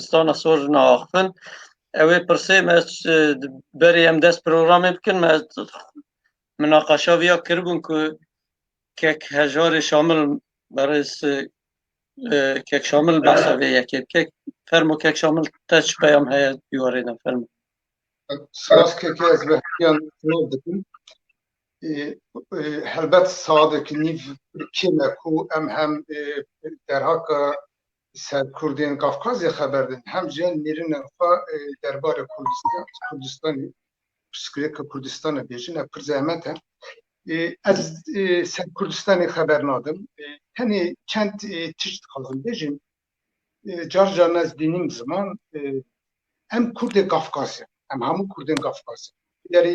dibistana sorjina axivin ew ê pirsê me berê em dest programê bikin me minaqaşa viya kiribûn ku kek hejarê şamil berêz kek şamil behsa vê yekê kek fermo kek şamil te çi peyam heye dîwarê de fermo Spas kekê ez ve hemiyan dikin helbet saadekî nîv kême ku em hem derhaka Li ser Kurdên Kafkazê xeber din hem jî mirinên xwe derbarê Kurdistanê pirsgirêka Kurdistanê bêjin ev pir zehmet e. Ez ser Kurdistanê xeber nadim. Tenê çend tişt dixwazim bêjim. Car car ez dînim ziman em Kurdê Kafkazê em hemû Kurdên Kafkazê. Derê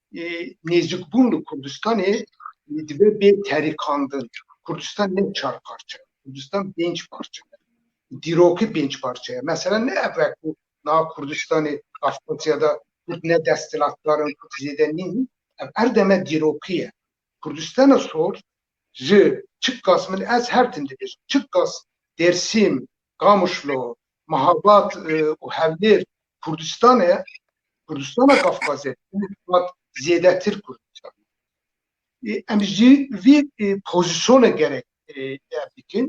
nêzîkbûn li Kurdistanê dibe bê terikandin. Kurdistan ne çar parçe ye. Kurdistan pênc parçe ye. Dîrokî pênc parçe ye. Mesela ne ev e ku niha Kurdistanê Kafkasya de Kurd ne desthilatdar in, Kurd zêde nîn. Ev her deme dîrokî ye. Kurdistana Sor ji Çikas min ez her tim dibêjim. Çikas, Dêrsîm, Qamişlo, Mahabat û Hewlêr Kurdistan e, Kurdistana Kafkazê zêdetir Kurdistan. Em ji vî pozîsyona gerek dikin,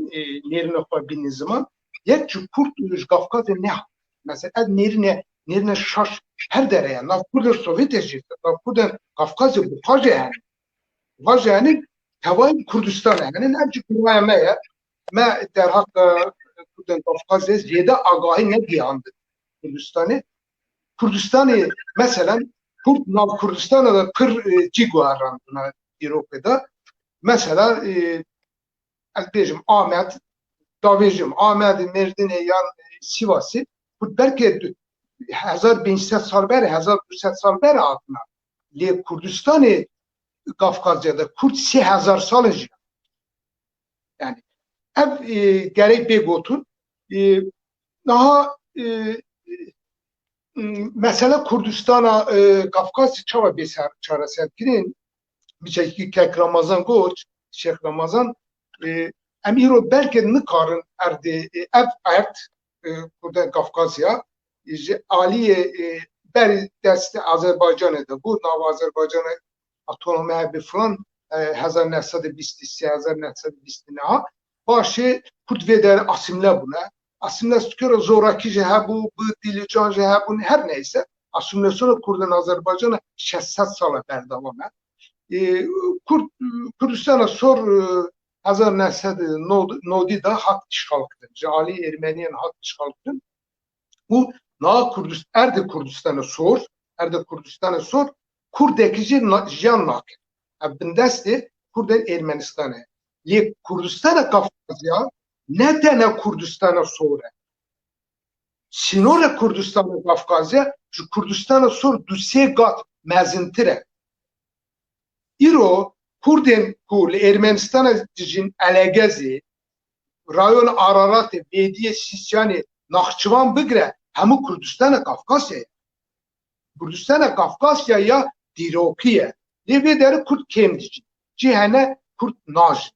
nêrine xwe bînin ziman. Yek ji Kurd ji Kafkazê ne. Mesela ev nêrine nêrine şaş her dere ye. Nav Kurda Sovyetê jî, nav Kurda Kafkazê bi xwe jî hene. Xwe jî hene tevayî Kurdistan hene. Ev ji kuraya me ye. Me derheqê Kurdên Kafkazê zêde agahî negihand Kurdistanê. Kurdistanê meselen Kurd nav Kurdistana de pir cî guherandina dîrokê de. Mesela ez bêjim Amed davêjim Amedê, Mêrdinê yan Sivasê Kurd belkê 1500 sal ber 1200 sal ber hatina. Lê Kurdistanê Kafkazê de Kurd 3000 sal jî Yani ev e, gerek bê gotin e, daha e, mesela Kurdistana e, Kafkasî çawa bê çareserkirin bi çekî kek Ramazan goç Şêx Ramazan e, em îro belkê nikarin erdê e, ev erd e, Kurda Kafkasya ji aliyê e, berî dest Azerbaycanê de bû nava Azerbaycanê atome bi filan hezar neh sed û bîst û sê hezar neh sed û bîst û niha paşê Kurd vê der asîmle bûne. Asîmle stikero zorakî jî hebû, bi dîlîcan jî hebûn her neyse asîmlesîona Kurd in Azerbaycana şeş sed sal e berdewam e. Kurd Kurdistana sor hezar neh sed û nodî de hat îşxalkirin ji aliyê Ermeniyan hat îşxalkirin û niha Kurdist erdê Kurdistana sor erdê Kurdistana sor Kurdekî jî jiyan nakin. Ev bindestê Kurdên Ermenistanê ye. Lê Kurdistana Kafkazya ne tena Kurdistana sor e. Sînora Kurdistana Kafkazya ji Kurdistana sor du sê gat mezintir e. Îro Kurdên ku li Ermenistana dijîn elegezê Rayon Araratê, Bêdiyê Sîsyanê, Naxçıvan bigire hemû Kurdistana Kafkasya ye. Kurdistana Kafkasya ya dîrokî ye. Lê vê deri Kurd kêm dicîn. Cî hene Kurd najin.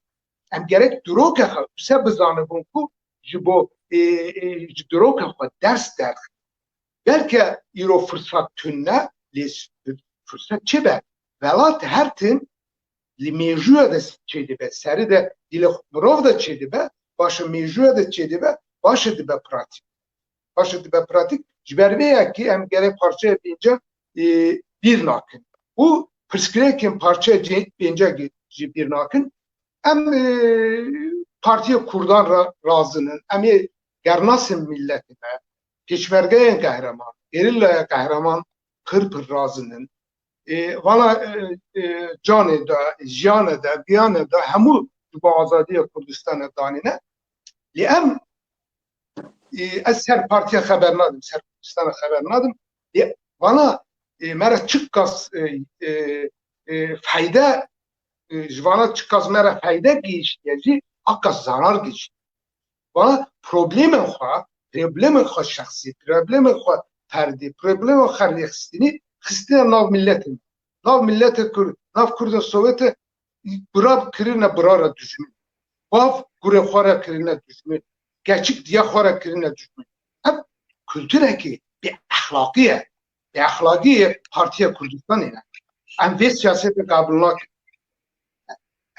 Em gerek diroke xwe wise bizanibûn ku ji bo ji diroke xwe ders derxin. Belke îro firsat tune lê firsat çi be? Welat her tim Li mêjûya de çêdibe serî de dî li mirov de çêdibe paşê mêjûya de çêdibe paşê dibe pratîk. Paşê dibe pratîk ji ber vê ye kî em gerek parçeya pênce bîr nakin û pirsgirêkên parçeya pênce jî bîr nakin. Em Partiya Kurdan re razin in. Em ê gernasên mîletê me, pêşmergeyên qehreman, gerîlaya qehreman pir pir razin in. Vala canê de, jiyane de, biyane de hemû di bo azadiya Kurdistanê danîne. Lê em ez ser partiya xeber nadim, ser Kurdistana xeber nadim. Lê vala me re çi qas feyde ji vala çi qas me re feyde gihîştiye jî a qas zarar gihîştiye. Ba problemên xwe, problemên xwe şexsî, problemên xwe ferdî, problemên xwe rêxistinî xistine nav miletê me. Nav miletê Kurd, nav Kurda Sowetê gurab kirine bira re dijmin. Bav gurê xwe re kirine dijmin. Keçik diya xwe re kirine dijmin. Ev kulturekî bêexlaqî ye. Bi exlagiyê Partiya Kurdistanê ne. Em vê siyasetê qabûl nakin.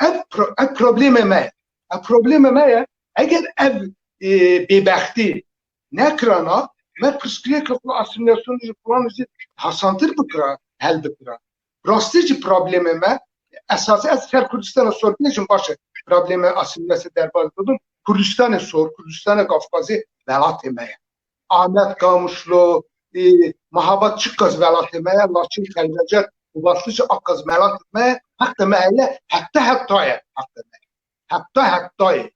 Ev, ev problemê me ye. Ev problemê me ye. Eger ev e, bêbextî nekirana, me pirsgirêka xwe asimilasyonê ji filan jî hesantir bikira, hel bikira. Bi rastî jî problemê me esasî ez ser Kurdistana sor binêjim baş e. Problemê asîmîlasê derbas bibim Kurdistanê sor, Kurdistana gavxwazê welatê me ye. Amed, Kamuşlo, ê Mahabat çi qas welatê me ye, Laçin, Xelwece û Baslice a qas welatê me ye. Heqê me heye, heta heta ye heqê me. heta hetayê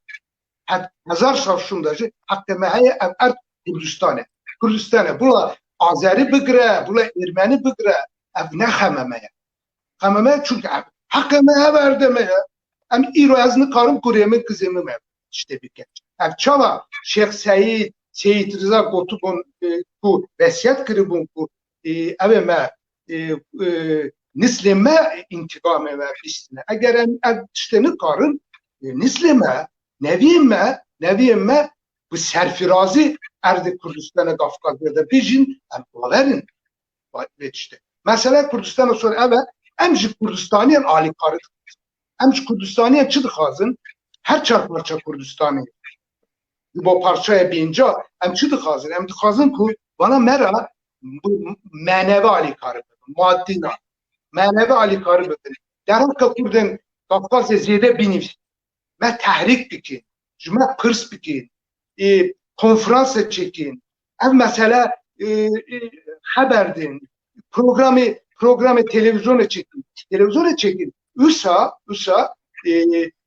hezar şavşûn de jî heqê me heye ev erd Kurdistan e. Kurdistan e bila Azerî bigire, bila Êrmenî bigire ev ne xeme me ye. Xeme me çunke ev heqê me ev erdê me ye. Em îro ez nikarim kurê min kizê min me tiştê bike. Ev çawa Şêx Seyîd, Seyîd Riza gotibûn ku vesiyet kiribûn ku Ew ê me nislê me întiqamê me bihîstine. Eger em ev tiştê nikarin nislê me, neviyên me, neviyên me bi serfirazî erdê Kurdistana Kafkazya de bijîn em bawer in vê tiştê. Mesela Kurdistana Sor ev e em ji Kurdistaniyan alîkari dixwazin. Em ji Kurdistaniyan çi dixwazin? Her çar parça Kurdistanê Di bo parçaya pênca em çi dixwazin? Em dixwazin ku bana me ra meneve alîkar bibin, madî na. Meneve alîkar bibin. Derheqa Kurdên Kafkasê zêde bînîvîsin. Me tehrîk bikin, ji me pirs bikin, ê konferanse çêkin. Ev mesele xeber din, programê programê televizyonê çêkin. Televizyonê çêkin. Usa, usa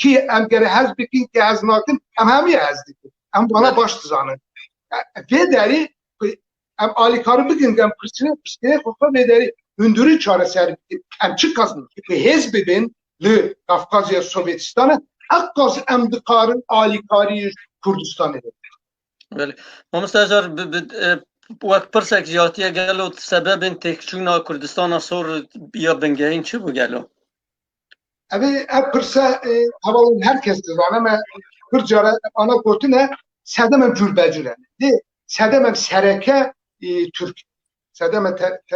Kî em gerê hez bikin kî hez nakin em hemî hez dikin. Em bana baş dizanin. Vê derî em alîkarî bikin em pirsînê pirsînê xwe xwe vê derî hindurî çareser bikin. Em çi kazin bi hêz bibin li Kafkazya Sovyetîstanê heqas em dikarin alîkarî Kurdistanê bikin. Belê. Mamosta Ejar wek pirsek jî hatiye gelo sebebên têkçûna Kurdistana sor ya bingehîn çi bû gelo? Ev ev pirse hava û her kes dizane me pir cara ana gotine sedem ev cûr becûr e. Dê sedem ev sereke Türk. Sedem ev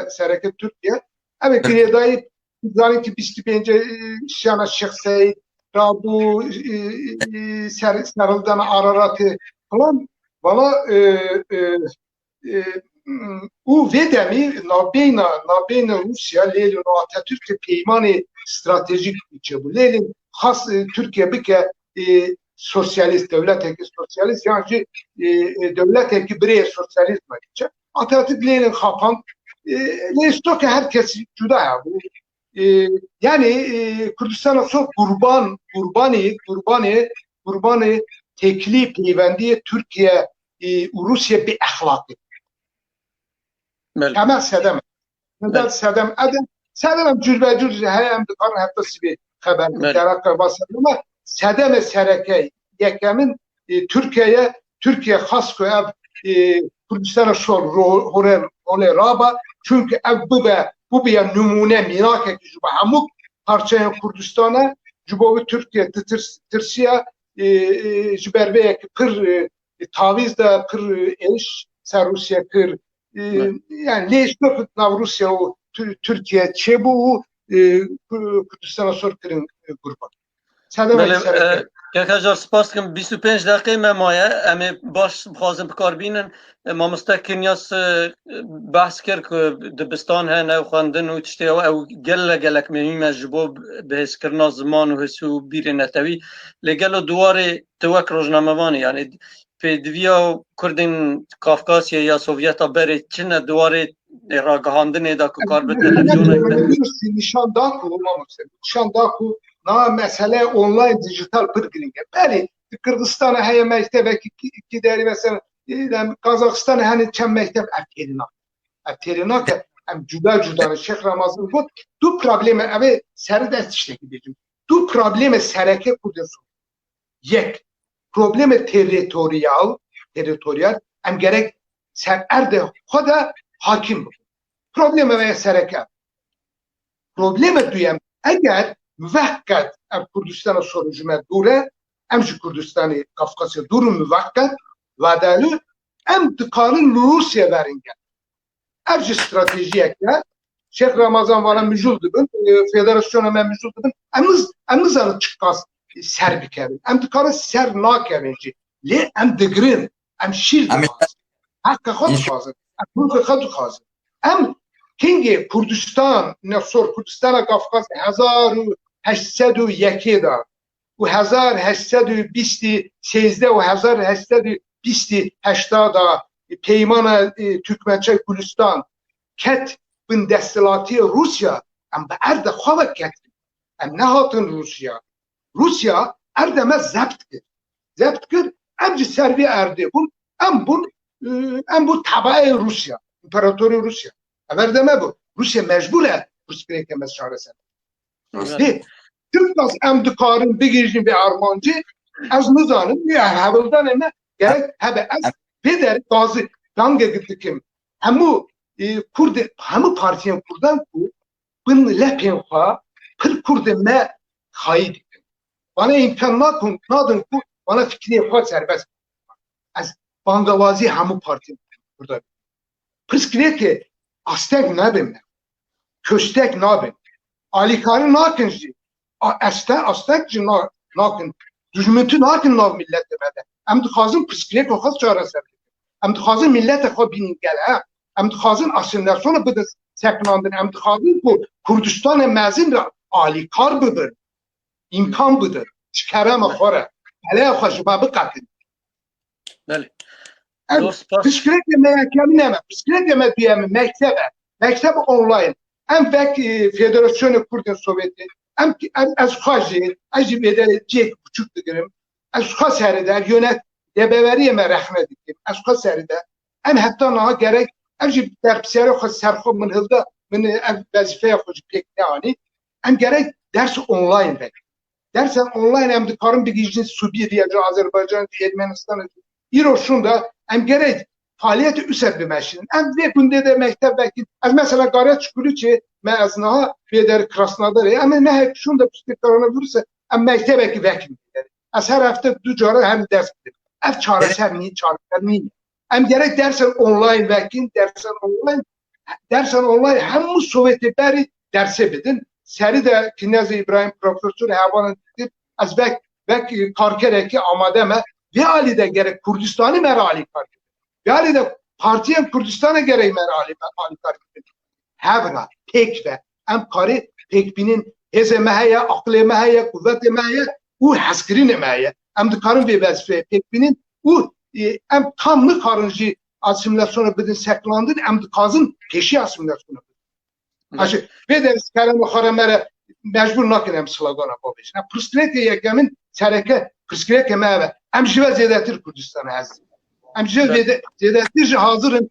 sereke Türkiye. Ev girêdayî zanî ki 25 şana Şex Seyid rabû serildana Araratê falan. Valla û vê demî navbeyna navbeyna Rûsya lêlin û Atatürkê peymanê stratejîk çêbû lêlin xas Tirkiye bike sosyalist dewleteke sosyalist yan jî dewleteke birêye sosyalist biçe Atatürk lêlin xapand lê stoke her kes cuda hebû Yanî Kurdistana xwe qurban qurbanî qurbanê qurbanê têkilî peywendiyê Tirkiye û Rûsye bê exlaqî. Temel sedem temel sedem ed sedem em cûrbecûr heye em dikarin heta sibê xeber bidin. Dera qeba sedem e sedemê serekeyî. yekemin Tirkiye ye. Tirkiye xwest ku ev Kurdistana şor holê raba çunki ev bibe bûbiye nimûne mîrakekî ji bo hemû parçeyên Kurdistana ji bo vê Tirkiye tirsiya ji ber vê yekî pir tavîz da pir êş ser Rûsye kir yani lê ji ber nav Rûsya û Tirkiye çêbû û Kurdistana şor kirin gurban. Kekajar spas dikim 25 deqê me maye em ê baş bixwazin bikar bînin mamoste Kinyas behs kir ku dibistan hene û xwendin û tiştê ew ew gele gelek mihîm e ji bo bihêzkirina ziman û his û bîrê netewî lê gelo di warê tu wek rojnamevanê yanê pêdiviya Kurdên Kafkasyê ya Sovyeta berê çi ne di warê Lê ragihandinê de ku kar bi televîzyonên me. Nîşan da ku mamoste nîşan da ku na mesele online dijital pir girîng e. Belê di Kirdistanê heye mektebekî kî derî mesela Kazaxistanê henê çend mekteb ev têrê nake. Ev têrê nake em cuda cuda ne Şêx Ramazan got du probleme ev ê seri de tiştekî bêjim. Du probleme sereke Kurdên Sûrî. Yek, problemê territorial, territorial em gerek ser erdê xwe de hakim bibin. Problemê me ya sereke ev. Problemê duyem, eger miveq qet ev Kurdistana soru ji me dûr e, em ji Kurdistanê Qafqasya dûr in miveq qet, vadayê em dikarin li Rûsyê verin gelê. Ev ji stratejiyek e. Şêx Ramazan vana mijûl dibin, federasyona me mijûl dibin. Em em nizanin çi qas ser bikevin. Em dikarin ser nakevin jî. Lê em digirin, em şîr dixwazin. Heqa xwe dixwazin, em hûrka xwe dixwazin. Em kengê Kurdistan, ne sor Kurdistana Kafkas hezar û heşt sed û yekê de û hezar heşt sed û bîst û sêzdeh û hezar heşt sed û bîst û heşta de Peymana Turkmençe Gulistan ket bin desthilatiyê Rûsya, em bi erde xwe ve ketin. Em nehatin Rûsya. Rûsya erdê me zebt kir. Zebt kir, em jî ser vê erdê bûn, em bûn em bûn tebaeyê Rûsya, împeratorê Rûsya. Ev erdê me bû. Rûsya mecbûr e pirsgirêkê me çareser bike. Rastî. Çim kas em dikarin bigihîjin vê armancê ez nizanim wê hevildanê me gerek hebe ez vê derê gazi dangekî dikim hemû kurdê hemû partiyên kurdan ku bin lepên xwe pir kurdê me xayî dikin bana îmkan nakin nadin ku bana fikirê xwe serbest ez bangewazî hemû partiyên kurdan Pirsgirêkê asteng nabê me. Kuştek nabê. Alîkarî nakin jî. Asteng asteng jî nakin. Dûjminti nakin nav mîletê me de. Em dixwazin pirsgirêka xwe çareser bikin. Em dixwazin mîleta xwe bînin gel. Em dixwazin asîmîlasyona bidin sekinandin. Em dixwazin ku Kurdistanê mezin re alîkar bibin. Îmkan bidin. Ji kerema xwe re. Peleya xwe ji me biqetin. Belê. Zor spas. Piştgirêkê me ya kemî ne me. Piştgirêkê me duyem e, mekteb e. Mekteb online. Em vek e, Federasyonê Kurdên Sovyetê. Em em ez xwe jî ez jî bêde cêk biçûk digirim. Ez xwe serê de yönet debeveriyê me rexne dikim. Ez xwe serê de. Em heta niha gerek ev jî berpisyarê xwe ser xwe min hilda min e, ev wezîfeya xwe jî pêk neanî. Em gerek ders online vek. Dersen online em dikarin bigihîjin Sûbîrya ji Azerbaycan jî Ermenistan jî. Îro şûnda em gerek faaliyetê user bimeşînin. Em vê gundê de mekteb vekîn. Ez mesela Garya Çukurîçê me ez niha vê der Krasnodarê em ê mehek şûnda piştî koronavîrûsê em mektebekî vekîn. Ez her hefte du caran hem ders bidim. Ev çareser nîn, çareser nîn. Em gerek dersen online vekin, dersen online dersen online hemû Sovyetê berî dersê bidin. Serî de Kinezê İbrahim profesor hevalan dikir ez vek vek karkerekî amade me. Vê alî de gerek Kurdistanî me re alî kar kirin. Vê alî de partiyên Kurdistanê gerek me re alî alî kar kirin. Hev re pêk ve em parê pêkbînên hêzê me heye aqilê me heye quvvetê me heye û hezkirinê me heye em dikarin vê vezifeyê pêkbînin û em tam nikarin jî asimilasyona bidin seklandin em dikazin pêşî asimilasyona bidin Aşı, vê derskarên xara me re mecbur nakin em slogana xwe bêjin. Pirsgirêkê yekemin sereke pirsgirêkê me eve. Em ji ve zêdetir Kurdistan ez. Em ji ve zêdetir ji hazirin